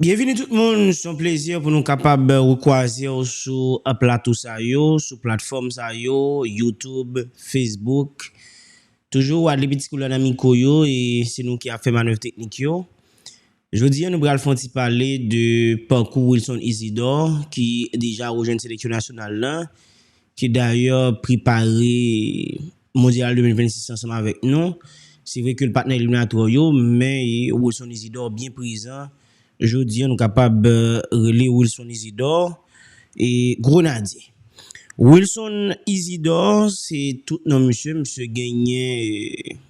Byenvini tout moun, s on plezi pou nou kapab rekwaze w sou plato sa yo, sou platfòm sa yo, YouTube, Facebook. Toujou Wadley Petit Couleur nan mikwo yo e se nou ki ap fè manèv teknik yo. Jodi a nou pral fè yon ti pale de pakou Wilson Isidor ki deja rejwenn seleksyon nasyonal lan ki dayè prepare Mondyal 2026 ansanm avèk nou, se vre ke l pat nan eliminatwa yo, men Wilson Isidor byen prezan, jodi an nou kapab rele Wilson Isidor Grenadye. Wilson Isidor se tout non misye, misye genyen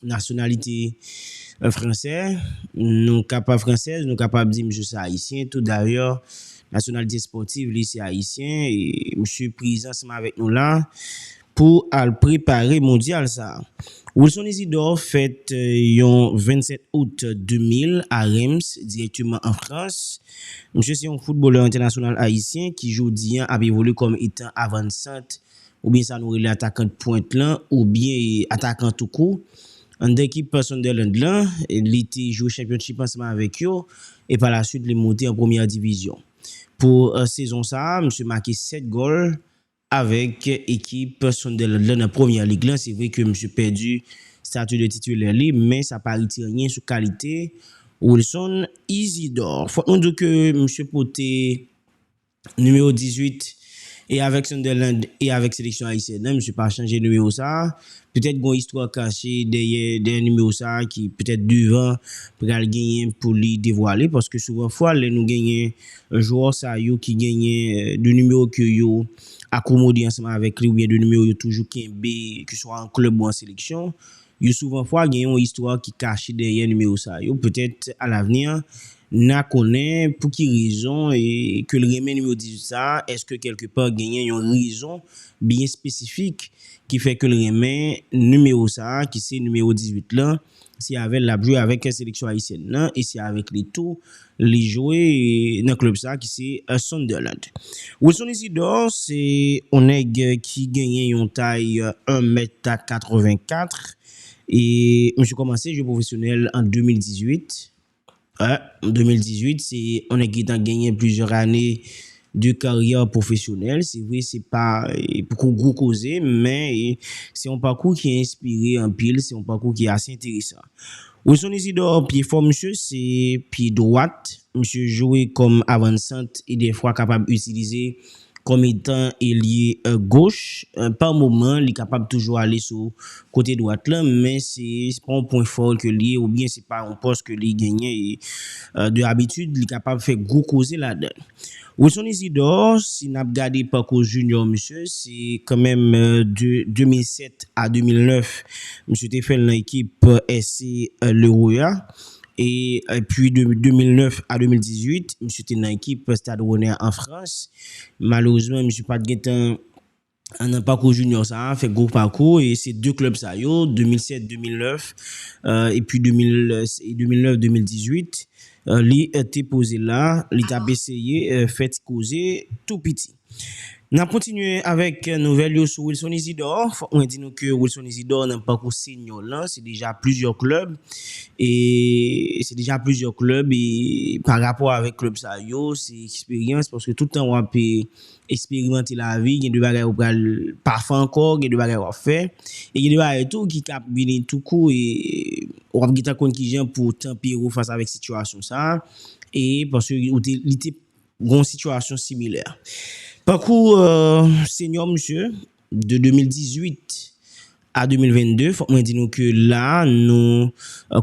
nasyonalite fransè, nou ka pa fransèz, nou kapab di misye se ayisyen tou dayè nasyonalite spòtiv li se ayisyen e misye prezan ansanm avèk nou la pou al prepare mondyal sa. Wilson Isidor fèt yon 27 out 2000 a Reims, dirèkteman an Frans. Misye se yon foutbolè entènasyonal ayisyen ki jodi an ap evolye kòm etan avan-sante oubyen sa nou rele atakan dpwent lan oubyen atakan toukou. Anndan ekip Sunderland lan, li te jwe chanpyonchip ansanm avèk yo e palaswit li moute an premyè divizyon. Pou sezon sa a, misye make 7 gòl avèk ekip Sunderland lan nan Premier League lan. Se vre ke misye pèdi stati de titulè li, men sa pa retire anyen sou kalite Wilson Isidor. Fòk nou di w ke misye pote Nimewo 18 e avèk Sunderland e avèk seleksyon ayisyèn an misye pa chanje nimewo sa a. Petèt gon istwa kache dèyè dèyè nimewo sa a ki petèt devan pral genyen pou li devwale paske souvan fwa lè nou genyen jwò sa yo ki genyen 2 nimewo ke yo akomode ansanm avèk li oubyen 2 nimewo yo toujou kenbe keswa an klèb ou an seleksyon Yo souvan fwa gen yon istwa ki kache dèyè nimewo sa yo, petèt alavni na konnen pou ki rezon ke l renmen nimewo 18 sa, èske kèlke pa genyen yon rezon byen espesifik ki fè ke l renmen nimewo sa ki se nimewo 18 lan, se avè l lap jwe avèk seleksyon ayisyèn nan e se avèk li tou Li jwe nan klub sa ki se Sunderland. Wilson Isidor se yon nèg ki genyen yon tay 1 mèt 84 e misye kòmanse jwe pwofesyonèl an 2018. An 2018 se yon nèg ki gentan genyen plizyè ane de karyè pwofesyonèl. Se vre se pa poko gwo koze men se yon pakou ki enspire anpil, se yon pakou ki ase enteresan. Wilson Isidore pye fò misye se pye dwat, misye jwe kòm avansant e dèfwa kapab itilize kòm etan elye goch, pa moman li kapab toujou ale sou Kote dwat lan, men se pa yon pwen fò l ke li ye oubyen se pa yon pòs ke li genyen e de abitid li kapab fè gwo koze ladan l. Wilson Isidor, si n ap gade pakou Junior misye, se kan menm de 2007 a 2009 misye te fè l nan ekip SC Leroya e epi de 2009 a 2018 misye te nan ekip Stade Rennais an Frans. Malerezman misye pa t gentan Nan pakou junior sa a, fè gwo pakou e se 2 klèb sa yo, 2007, 2009 epi 2009, 2018 li te poze la, li t ap eseye fè ti koze tou piti. N ap kontinye avèk nouvèl yo sou Wilson Isidor. Fòk mwen di nou ke Wilson Isidor nan pakou seniò l lan, se deja plizyè klèb e se deja plizyè klèb e pa rapò avèk klèb sa yo, se eksperyans paske tout tan w ap Eksperimante lavi, gen de bagay ou pral pa fè ankò, gen de bagay wap fè, e gen de bagay tou ki ka ap vini tou kou e wap gentan konn kijan pou tanpere w fas avèk sitiyasyon sa a, e paske ou te, li te gon sitiyasyon similè. Pakou Senyè w misye. de 2018 a 2022 fòk mwen di nou ke la nou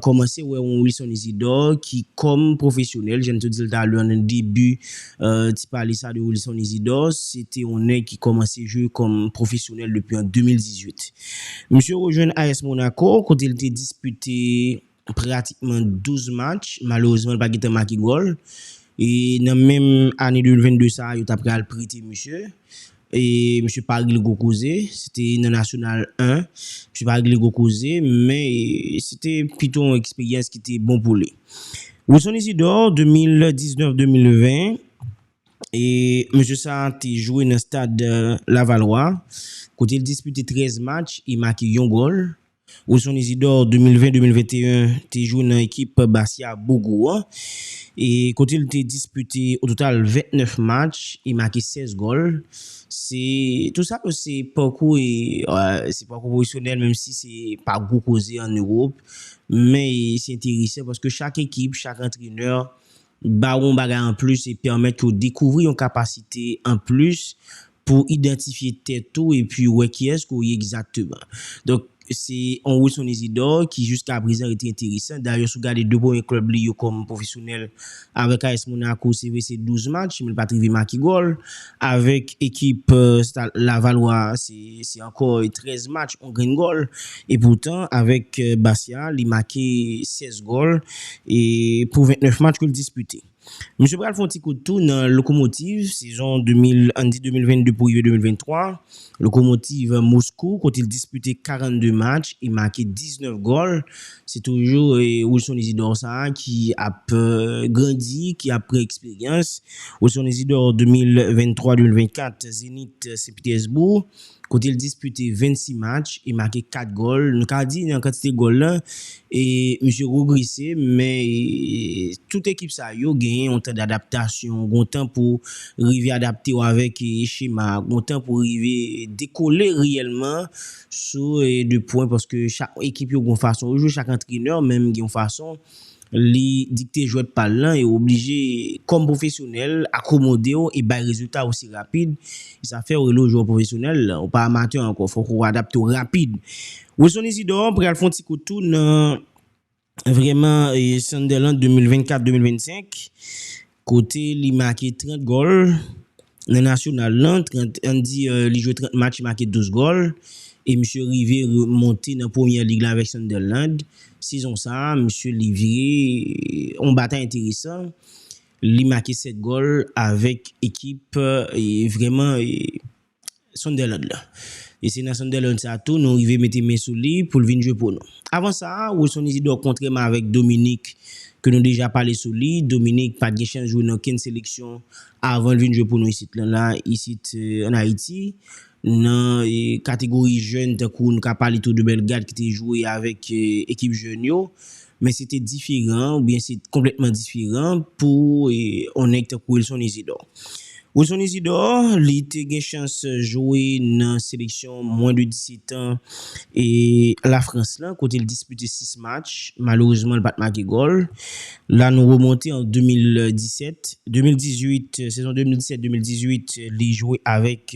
kòmanse wè yon Wilson Isidor ki kòm pwofesyonèl jan m te di l talè nan debi ti pale sa de Wilson Isidor se te yon nèg ki kòmanse jwe kòm pwofesyonèl depi an 2018 misye rejwenn AS Monaco kote l te dispite pratikman 12 match, malerezman li pa gen tan make gòl e nan menm ane 2022 sa yo ta pral prete misye e misye pa regle gwo koze, se te nan Nasyonal 1, misye pa regle gwo koze men se te pito yon eksperyans ki te bon pou li. Wilson Isidore 2019-2020 e mesye sa te jwe nan stad Lavalwa kote li dispite 13 match e make yon gòl Wilson Isidore 2020, 2021 te jwe nan ekip Bastia Bougou an e kote l te dispite ototal 29 match e make 16 gòl. Se tout sa yo se pakou e se pakou pwofesyonèl menm si se pa gwo koze an Ewop men e se enteresan paske chak ekip, chak antrenè ba ou yon bagay anplis e pèmèt ke w dekouvri yon kapasite anplis Pou w idantifye tèt ou epi wè kiyès ke w ye egzakteman. Donk, se yon Wilson Isidore ki jiska prezan rete enteresan. Dayè si w gade 2 premye klèb li yo kòm pwofesyonèl, avèk AS Monaco se vre se 12 match men li pa t rive make gòl. Avèk ekip Stade Lavallois a se ankò 13 match, yon grenn gòl. Epoutan, avèk Bastia a li make 16 gòl pou 29 match ke l dispite. Misye pral fè yon ti kout tou nan Lokomotiv sezon 2000 ann di 2022 pou rive 2023, Lokomotiv Moskou kote l dispite 42 match e make 19 gòl. Se toujou Wilson Isidor sa a ki ap grandi, ki ap pran eksperyans. Wilson Isidor 2023, 2024 Zenit Sen Pitèsboug. kote l dispite 26 match e make 4 gòl, nou ka di nan kantite gòl lan misye rogrese men tout ekip sa yo genyen yon tan dadaptasyon, gon tan pou rive adapte w avèk chema a, gon tan pou rive dekole reyèlman sou 2 pwen paske chak ekip yo gon fason yo jwe, chak antrenè menm gen yon fason. Li dikte jwèt pa l lan e w oblije, kòm pwofesyonèl, akomode w e bay rezilta osi rapid. E sa fè w rele w jwè pwofesyonèl, w pa amatè ankò. Fòk ou adapte w rapid. Wilson Isidore pral fè yon ti kout tou nan vrèman Sunderland 2024-2025. Kote li make 30 gòl nan nasyonal lan, ann di li jwe 30 match make 12 gòl e misye rive monte nan premyè lig la avèk Sunderland. Sezon sa, misye livre yon batay enteresan, li make 7 gòl avèk ekip vrèman. Sunderland la. E se nan Sunderland sa a tou nou rive mete men sou li pou l vin jwe pou nou. Avan sa, Wilson Isidore kontrèman avèk Dominique ke nou deja pale sou li, Dominique pa t gen chans jwe nan okenn seleksyon avan l vin jwe pou nou isit lan la, isit an Ayiti. Nan kategori jèn tankou nou ka pale tou de Bellegarde ki te jwe avèk ekip jèn yo. Men se te diferan oubyen se konplètman diferan pou yon nèg tankou Wilson Isidor. Wilson Isidor, li te gen chans jwe nan seleksyon mwen de 17 an La Frans lan kote l dispite 6 match, malerezman l pa t make gòl. La nou remonte an 2017, 2018, sezon 2017, 2018 li jwe avèk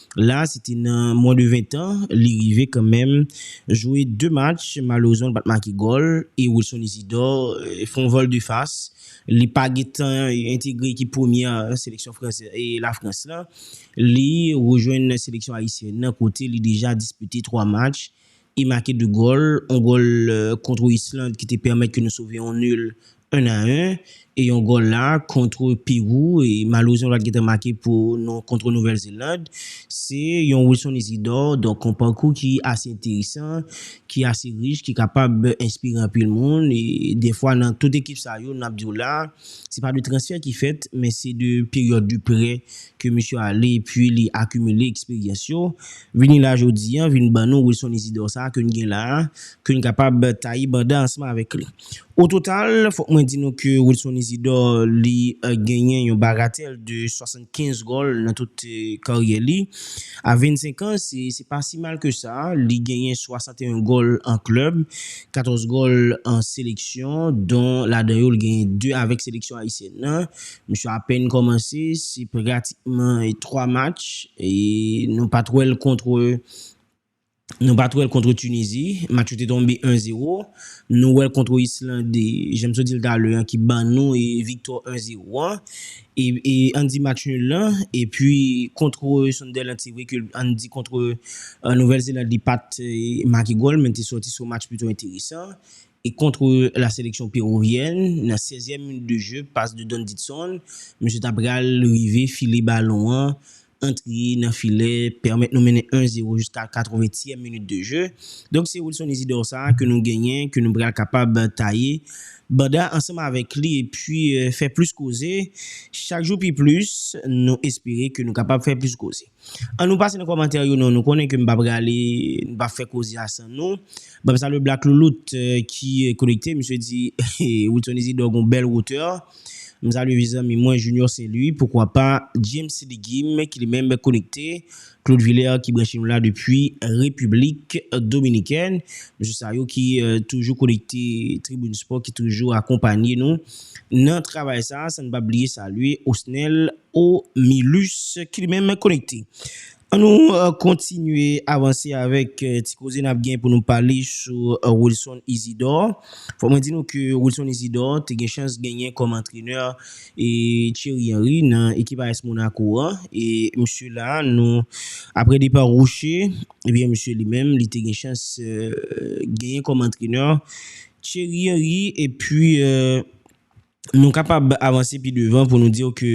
La se te nan mwen de 20 tan, li rive kanmenm jwe 2 match, malerezman li pat make gòl e Wilson Isidor fè yon vòl de fas, li pa gen tan entegre ekip premyè seleksyon Lafrans lan, li rejwenn seleksyon ayisyèn nan kote li deja dispite 3 match e make 2 gòl, yon gòl kontre Island ki te pèmèt ke nou sove yon nul 1 a 1 e yon gòl la kontr Perou e malerezman pat gentan make pou nou kontr Nouvèl Zeland. Se yon Wilson Isidor donk yon pakou ki ase enteresan, ki ase rich, ki kapab enspire anpil moun e dèfwa nan tout ekip sa yo nap diw la se pa de transfè ki fèt men se de peryòd de prè ke misye ale epi li akimile eksperyans yo vini la jodi an vin ban nou Wilson Isidor sa ke n gen la ke n kapab taye banda ansanm avèk li. O total, fòk mwen di nou ke Wilson Isidor li genyen yon bagatèl de 75 gòl nan tout karyè li. A 25 an, se pa si mal ke sa, li genyen 61 gòl an klèb, 14 gòl an seleksyon, don ladan yo li genyen 2 avèk seleksyon ayisyèn nan. Misye apèn kòmanse, se pratikman 3 match, nou pa t wè l kontre. Nou pat wèl kontre Tunizi, match yo te tonbe 1 zero, nou wèl kontre Islande, janm sot dil talè an ki ban nou viktwa 1 zero an, e ann di match nul lan, epi kontre Sunderland se vre ke ann di kontre Nouvèl Zeland li pat make gòl men te sòti son match pito enteresan, E kontre la seleksyon peruvyèn, nan sezyèm minit de je, pas de Don Didson, misye ta pral rive file balon an antre nan filè, pèmèt nou mennen 1 zero jiska katreventyèm minit de je. Donk se Wilson Isidor sa ke nou genyen, ke nou pral kapab taye banda ansanm avèk li epi fè plis koze. Chak jou pi plis, nou espere ke nou kapab fè plis koze. An nou pase nan kòmantè yo non nou konnen ke m pa prale m pa fè koze a san nou banm salwe black loulout ki konekte misye di wilson isidor gon bèl wotè m salwe vye zanmi mwen junior saint louis poukwa pa james legim ki li menm konekte claude vilaire ki branche nou la depi repiblik dominikèn mesye sa yo ki toujou konekte tribune sport ki toujou akonpanye nou nan travay sa san n pa bliye salwe osnel O Milus ki li menm konekte. An nou kontinye avanse avèk ti koze n ap gen pou nou pale sou Wilson Isidor. Fò mwen di nou ke Wilson Isidor te gen chans genyen kòm antrenè Thierry Henry nan ekip AS Monaco an. E msye la nou apre depa Roche, ebyen msye li menm li te gen chans genyen kòm antrenè Thierry Henry epi. nou kapab avanse pi devan pou nou di w ke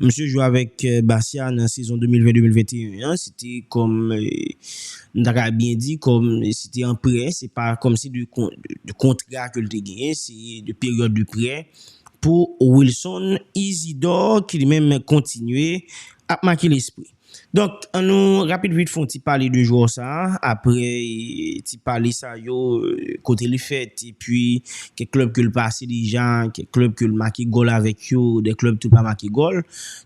misye jwe avèk Bastia nan sezon 2020-2021 an, se te kòm, m ta ka byen di, kòm se te an prè, se pa kòm si de kontra ke l te genyen, se de peryòd de prè pou Wilson Isidore ki li menm kontinye ap make lespri. Donk, an nou rapid vit fon ti pale de jwè sa a, aprè ti pale sa yo, kote li fèt, epi kèk klèb ke l pase deja, kèk klèb ke l make gòl avèk yo, de klèb tou pa make gòl.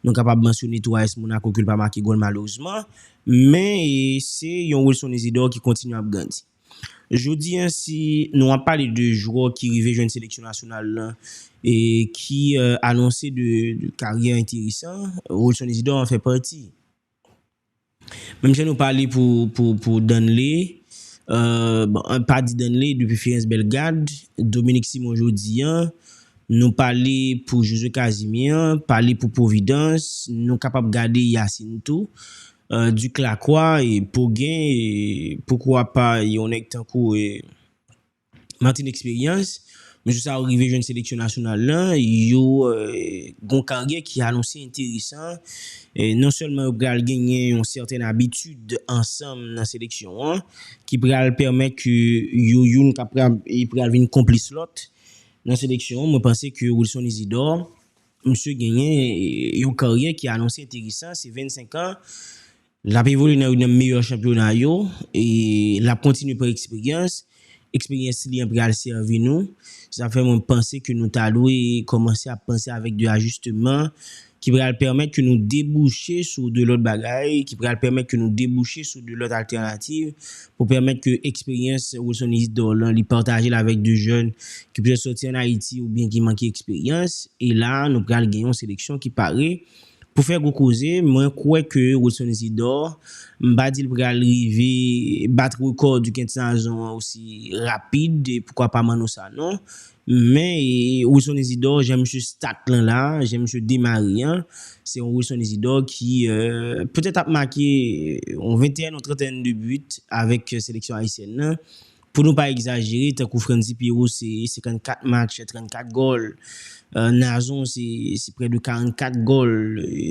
Nou kapab mansyone tou AS Monaco ke l pa make gòl malerezman, men se yon Wilson Isidore ki kontinye ap grandi. Jodi an si nou ap pale de jwè ki rive jwenn seleksyon nasyonal la e ki anonse de karyè enteresan, Rolson Isidor an fè pati. Menm jan nou pale pou Danley, bon an pa di Danley depi Firens Bellegarde, Dominique Simon jodi an, nou pale pou Josue Casimir, pale pou Providence, nou kapab gade Yacine tou. Duc lakwa e pou gen e poukwa pa yon nèg tankou e Martin Experians mesye sa yo rive jwenn seleksyon nasyonal lan yo gon karyè ki anonse enteresan e non sèlman yo pral genyen yon sèten abitid ansanm nan seleksyon an ki pral pèmèt ke yo youn kapab e pral vin konplis lòt nan seleksyon an mwen panse ke Wilson Isidore Misye genyen yon karyè ki anonse enteresan, se 25 an, l ap evolye nan youn nan meyè chanpyona yo, l ap kontinye pran eksperyans, eksperyans li an pral sèvi nou, sa fè mwen panse ke nou ta dwe kòmanse ap panse avèk de ajisteman ki pral pèmèt ke nou debouche sou de lòt bagay, ki pral pèmèt ke nou debouche sou de lòt altènativ Pou pèmèt ke eksperyans Wilson Isidore lan li pataje l avèk de jèn ki petèt sòti an Ayiti oubyen ki manke eksperyans. E la a nou pral gen yon seleksyon ki pare pou fè gwo koze. Mwen kwè ke Wilson Isidore, m pa di l pral rive bat rekò Duquesne Tinazon an osi rapid e poukwa pa Manno Sanon, Men Wilson Isidore jan misye start lan la, jan misye demare an, se yon Wilson Isidore ki petèt ap make yon 21 ou 31 de but avèk seleksyon ayisyèn nan. Pou nou pa egzajere, tankou Frantzy Pierrot se 54 match, 34 gòl, Nazon se prè de 44 gòl,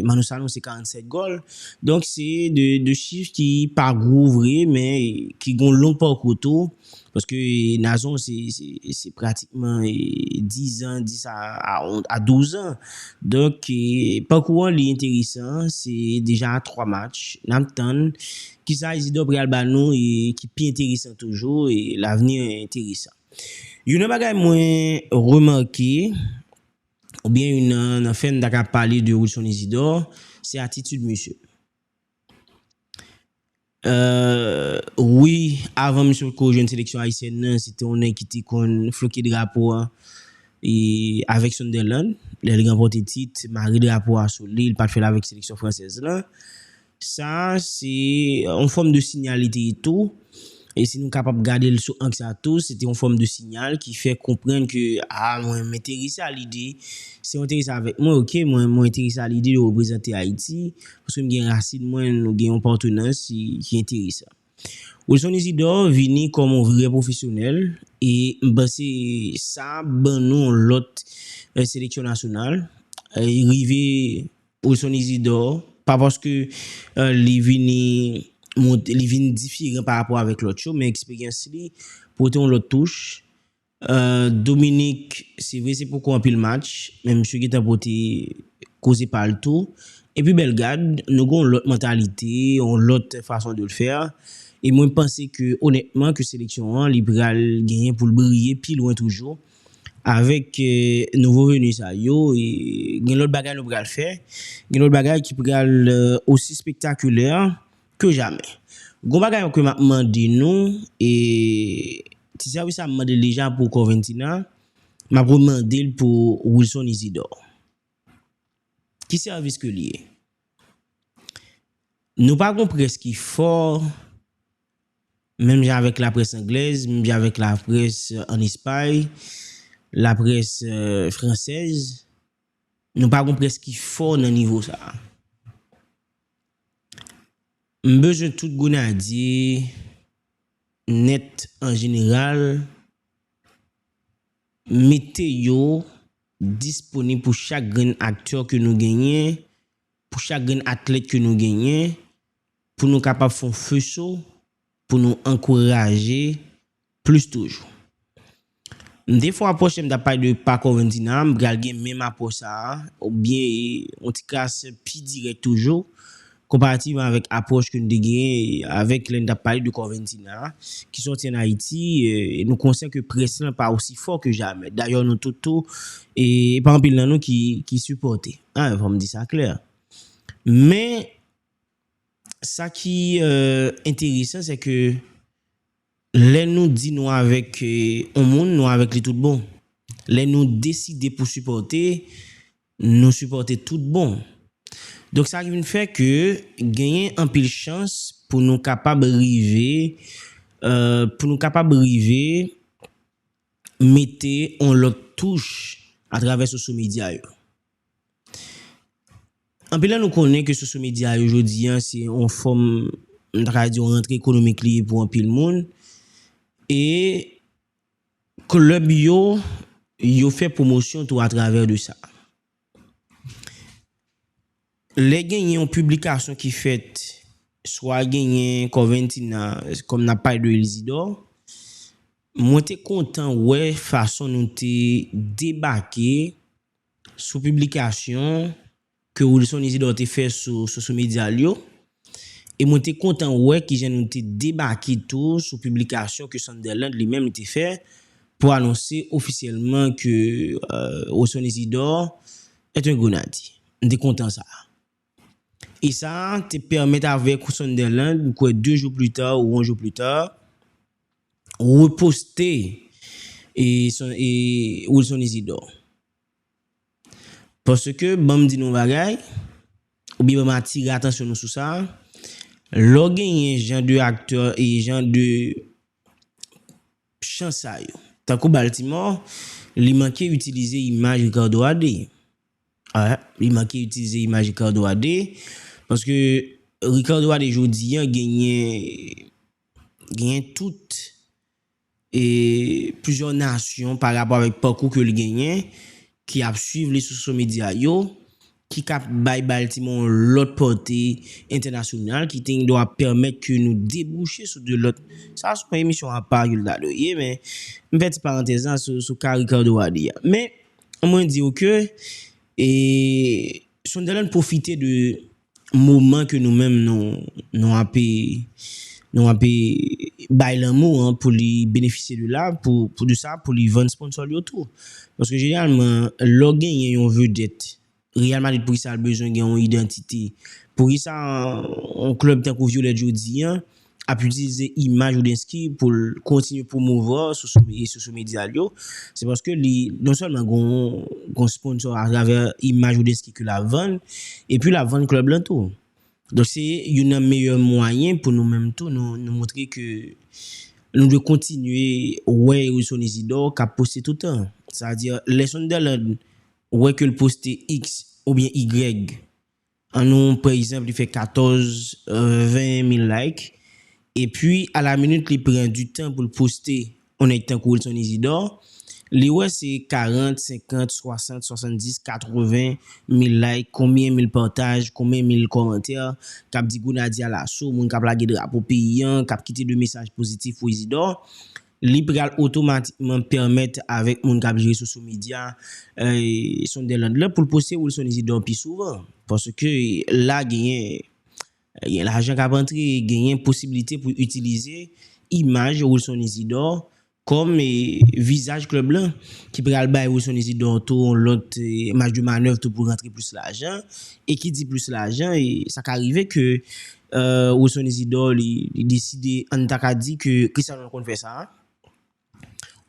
Manno Sanon se 47 gòl. Donk se 2 chif ki pa gwo vre men ki gen yon long parcours tou. Paske Nazon se pratikman 10 ans 10 a 12 ans donk pakou an li enteresan se deja 3 match nap tann kisa Isidor pral ba nou ki pi enteresan toujou l'avenir est interessant youn nan bagay mwen remake oubyen youn nan fè m ta ka pale de Wilson Isidor se atitid misye. Eeuhh wi avan misye potko jwenn seleksyon ayisyèn nan se te yon nèg ki te konn floke drapo a e avèk Sunderland lè li ranpòte tit mare drapo a sou li li pat fèl avèk seleksyon fransèz lan sa se yon fòm de sinyal li te ye tou E si nou kapab gade l sou ang sa tou, se te yon fòm de sinyal ki fè konprann ke, a, mwen m'enterese a lide, si w enterese avèk mwen, ok, mwen, mwen enterese a lide de reprezante Ayiti, paske m gen rasin mwen, nou gen yon patenans ki enteresan. Wilson Isidore vini kòm yon vrè pwofesyonèl, e m panse sa ban nou yon lòt seleksyon nasyonal, rive. Wilson Isidore, pa paske li vini monte, li vin diferan pa rapò avèk lòt yo, men eksperyans li pote yon lòt touch. Dominique, se vre se poko anpil match, men misye gentan pote koze pa l tou. Epi Bellegarde, nou gen yon lòt mantalite, yon lòt fason de le faire. E mwen panse ke onètman ke seleksyon an li pral genyen pou l briye pi lwen toujou. avèk nouvo veni sa yo, gen lòt bagay nou pral fè, gen lòt bagay ki pral osi spektakulè ke jamè. Gon bagay ankò m ap mande nou, e ti sèvis la m mande l deja pou Corventina, m ap remande l pou Wilson Isidor. Ki sèvis ke li ye? Nou pa gon près ki fò. Menm jan avèk laprès anglèz, menm jan avèk laprès ann Espay, laprès fransèz, nou pa gon près ki fò nan nivo sa a. M bezwen tout Gonadye nèt an jeneral mete yo disponib pou chak grenn aktè ke nou genyen, pou chak grenn atlèt ke nou genyen, Pou nou kapab fon feso pou nou ankouraje plis toujou. M te fon apwòch lè m tap pale de pako Vendina, m pral gen menm apwòch sa a ou byen yon ti kras pi dirèk toujou konparativman avèk apwòch ke nou te genyen avèk lè nou tap pale de Corventina a ki sòti an Ayiti e nou konsyan ke près lan pa osi fò ke jamè. Dayò nou tout tou e pa anpil nan nou ki sipòte. Fò m di sa klè. Men. Sa ki enteresan se ke lè nou di nou avèk yon moun, nou avèk li tout bon. Lè nou deside pou sipòte, nou sipòte tout bon. Donk sa vin fè ke genyen anpil chans pou nou kapab rive, pou nou kapab rive. mete yon lòt touch atravè soso medya yo. Anpil nan nou konnen ke soso medya yo jodi a se yon fòm, m ta ka di yon rantre ekonomik li ye pou anpil moun. E klèb yo, yo fè pwomosyon tou atravè de sa. Lè genyen yon piblikasyon ki fèt, swa genyen Corventina, kòm n ap pale de Isidor, mwen te kontan wè fason nou te debake sou piblikasyon ke Wilson Isidor te fè sou sosyo medya l yo. E mwen te kontan wè kijan nou te debake tou sou piblikasyon ke Sunderland li menm li te fè pou anonse ofisyèlman ke Rosson Isidore est un Grenadye. M te kontan sa. E sa te pèmèt avèk Sunderland, m kwè 2 jou pli ta ou 1 jou pli ta, reposte Wilson Isidore. Paske, ban m di nou yon bagay, oubyen ban m atire atansyon nou sou sa, lè w genyen jan de aktè e jan de chan sa yo, tankou Baltimore, li manke itilize imaj Ricardo a 2. Wi, li manke itilize imaj Ricardo a 2, paske Ricardo a 2 jodi an genyen, genyen tout. plizyè nasyon pa rapò avèk pakou ke l genyen ki ap swiv li sou so medya yo ki ka bay Baltimore yon lòt pòte entènasyonal ki te gendwa pèmèt ke nou debouche sou de lòt sa se yon emisyon apa ke l ta dwe ye men m fè ti parantèz la sou ka Ricardo a di a men mwen di w ke Sunderland pwofite de moman ke nou menm nou nou ape nou ape bay lanmou an pou li benefisye de la pou pou de sa pou li vann sponsor l yo tou paske jeneralman lè w genyen yon vedèt Real Madrid poukisa l bezwen gen yon idantite poukisa yon klèb tankou Violette jodi an ap itilize imaj Roudensky pou l kontinye pwomouvè sou sosyo medya l yo, se paske li non sèlman gon sponsò atravè imaj Roudensky ke l ap vann, epi l ap vann klèb lan tou. Donk se youn nan meyè mwayen pou nou menm tou nou montre ke nou dwe kontinye wè Wilson Isidore k ap poste toutan. Sa vle di lè Sunderland wè ke l poste x oubyen y An nou pran egzanp li fè 14 20 mil like epi a la minit li pran du tan poul poste on nèg tankou Wilson Isidor li wè se 40 50 60 70 80 mil like konbyen mil pataj konbyen mil kòmantè kap di Grenadye alaso moun kap lage drapo peyi an kap kite de mesaj pozitif pou Isidor Li pral otomatikman pèmèt avèk moun k ap jere sosyo medya Sunderland la pou l poste Wilson Isidor pi souvan. Paske la genyen gen lajan k ap antre, genyen posibilite pou yo itilize imaj Wilson Isidor kòm vizaj klèb lan ki pral bay Wilson Isidor tou yon lòt maj de manèv tou pou rantre plis lajan. E ki di plis lajan, sa ka rive ke Wilson Isidor li deside an ta ka di ke Cristiano konn fè sa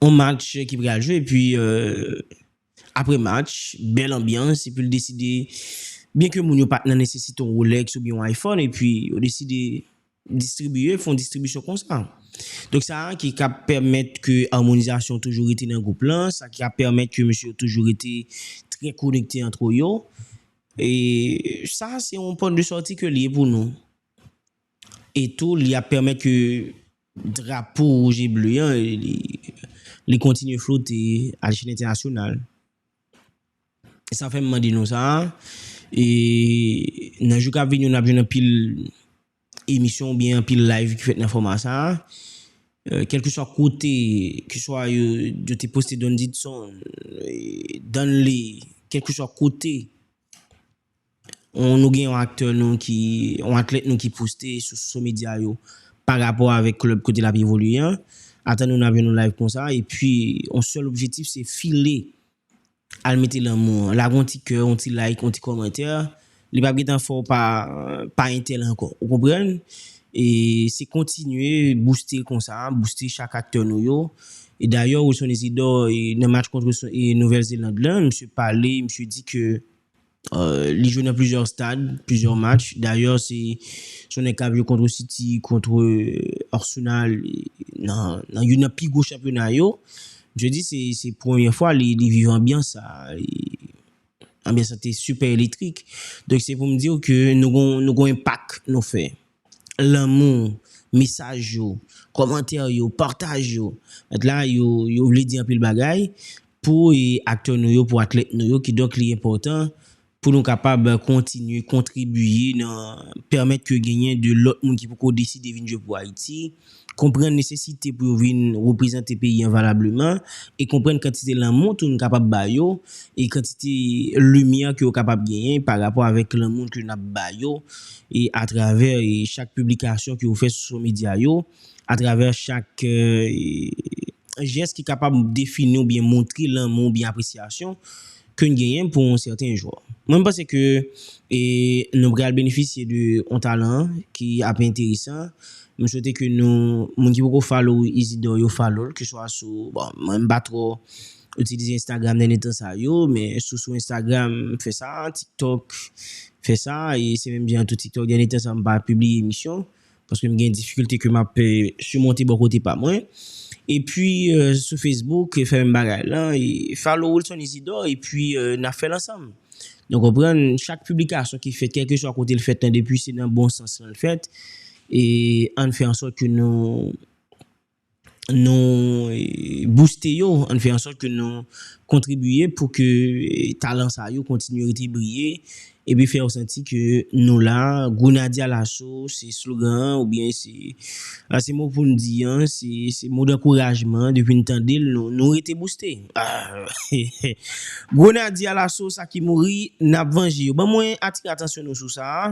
on match ki pral jwe epi apre match bèl anbyans epi li deside byen ke moun yo pat nan nesesite on Rolex oubyen on iPhone epi yo deside distribiye fon distribisyon konsa donk sa ki ka pèmèt ke amonizasyon toujou rete nan gwoup lan sa ki ka pèmèt ke mesye yo toujou rete trè konekte antre yo. E sa se yon pòt de sòti ke l ye pou nou. E tou li ap pèmèt ke drapo wouj e ble an li kontinye flote a lechèl entènasyonal. E sa fè m mande nou sa a, e nan jou k ap vini yo n ap jwenn anpil. emisyon ou byen anpil live ki fèt nan fòma sa a, kèlkeswa kote, keswa yo te poste Don Didson, Danley, kèlkeswa kote nou gen yon aktè nou ki, yon atlèt nou ki poste sou soso medya yo pa rapò avèk klèb kote l ap evolye an, ata nou nan avyon nou live konsa, epi yon sèl objetif se file. Al mete lanmou an. Lage yon ti kè, yon ti like, yon ti kòmantè. Li pap gentan fè w pa pa entèl ankò. Ou konprann? E se kontinye bouste konsa, bouste chak aktè nou yo. E dayè Wilson Isidore nan match kontre Nouvèl Zeland lan, misye pale, misye di ke Li jwe nan plizyè stad, plizyè match. Dayè se yon nèg kap jwe kontre City, kontre Arsenal nan youn nan pi gwo chanpyona yo. Msye di se premye fwa li viv anbyans sa. Anbyans la te sipè elektrik. Donk se pou m di w ke nou gon enpak nou fè. lanmou, mesaj yo, kòmantè yo, pataj yo. Mèt la, yo, yo vle di anpil bagay pou aktè nou yo, pou atlèt nou yo. Kidonk li enpòtan pou nou kapab kontinye kontribiye nan pèmèt ke genyen de lòt moun ki poko deside vin jwe pou Ayiti. konprann nesesite pou yo vin reprezante peyi an valableman, e konprann kantite lanmou tou nou kapab ba yo, e kantite limyè ke yo kapab genyen pa rapò avèk lanmou ke nap ba yo e atravè chak piblikasyon ke yo fè sou so medya yo, atravè chak jès ki kapab defini oubyen montre lanmou oubyen apresyasyon ke n genyen pou yon sèten jwè. Mwen m panse ke nou pral benefisye de yon talan ki ap enteresan. M swete ke nou, moun ki poko follow Isidor yo follow l, ke swa sou, bon, mwen m pa twò itilize Instagram dènye tan sa yo, men sou sou Instagram m fè sa, TikTok m fè sa, e se menm jan tou TikTok dènye tan sa m pa pibliye emisyon. paske m gen difikilte ke m ap simonte bò kote pa mwen. Epi sou Facebook fè menm bagay la, follow Wilson Isidore epi n ap fè l ansanm. Nou konprann, chak piblikasyon ki fèt kèlkeswa kote l fèt lan depi se nan bon sans lan l fèt, ann fè ansòt ke nou. nou bouste yo, an n fè an sòt ke nou kontribiye pou ke talan sa yo kontinye rete briye epi fè yo santi ke nou la, Grenadye Alaso se slogan an oubyen se mo pou n di an, se mo dankourajman depi n tande l nou rete bouste. Grenadye Alaso sa ki mouri n ap vanje yo. Ban mwen atire atansyon nou sou sa a,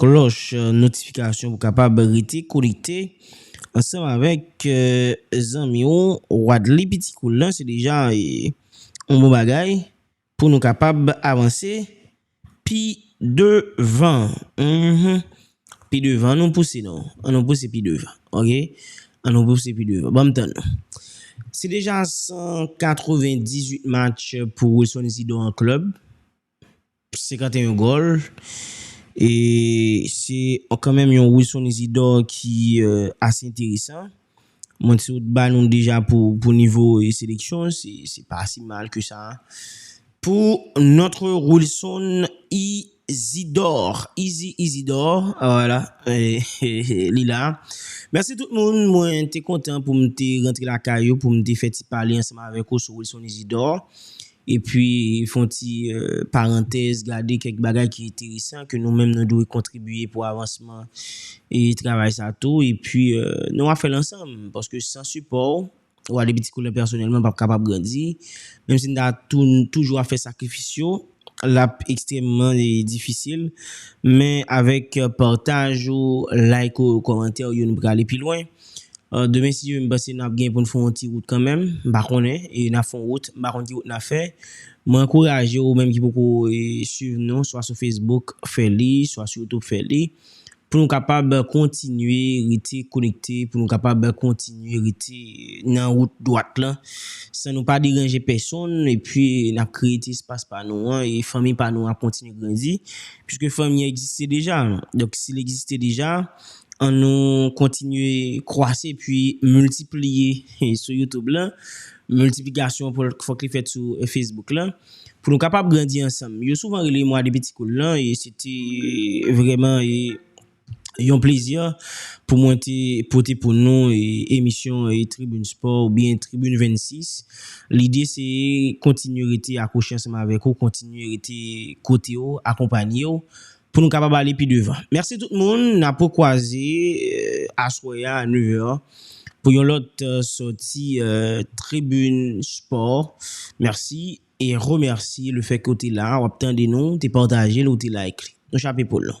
Klòch notifikasyon pou kapab rete konekte ansanm avèk zanmi w Wadley Pitikoul lan se deja yon bon bagay pou nou kapab avanse pi devan pi devan an nou pouse non an nou pouse pi devan ok an nou pouse pi devan banm tann nou se deja 198 match pou Wilson Zidon an klèb. 51 gòl e se kanmenm yon Wilson Isidor ki ase enteresan. Mwen te sot ba nou deja pou nivo seleksyon, se pa si mal ke sa. Pou notre Wilson Isidor, Izi Isidor, wala, li la. Mèsi tout moun, mwen te kontan pou m te rantre lakay ou, pou m te fè ti pale ansanm avèk ou sou Wilson Isidor. Epi fon ti parantèz gade kèk bagay ki enteresan ke nou menm nou dwe kontribiye pou avansman travay sa tou epi nou ap fèl ansanm paske san sipò ou ou ale piti koulè pèsonèlman pap kapab grandi menm si nou ta toujou ap fè sakrifis yo lap ekstrèmman difisil men avèk pataj ou like ou komantè ou yo nou prale pi lwen. Demen si Dye vle m panse nap gen pou n fon yon ti wout kanmenm, m pa konnen, e nap fon yon wout, m pa konn ki wout nap fè. Mwen ankouraje ou menm ki poko swiv nou swa sou Facebook fè li, swa sou YouTube fè li, pou nou kapab kontinye rete konekte, pou nou kapab kontinye rete nan wout dwat lan, san nou pa deranje pèsonn, epi nap kreye ti espas pa nou an, e fanmi pa nou an ap kontinye grandi, piske fanmi an egziste deja, donk si li egziste deja. An nou kontinye kwase epi miltipliye sou YouTube lan. Miltiplikasyon fòk li fèt sou Facebook lan. Pou nou kapab grandi ansanm. Yo souvan rele mwa de piti koul lan e se te vreman yon plezi pou mwen te pote pou nou emisyon Tribune Sport ou byen Tribune 26. Lide se kontinye rete akwoche ansanm avèk ou, kontinye rete kote w, akonpanye w. pou nou kapab ale pi devan. Mèsi tout moun, n ap rekwaze aswè a a 9 è pou yon lòt sòti Tribune Sport. Mèsi e remèsi le fè ke w te la, w ap tande nou, w te pataje l, ou te like li. Nou chape poul nou.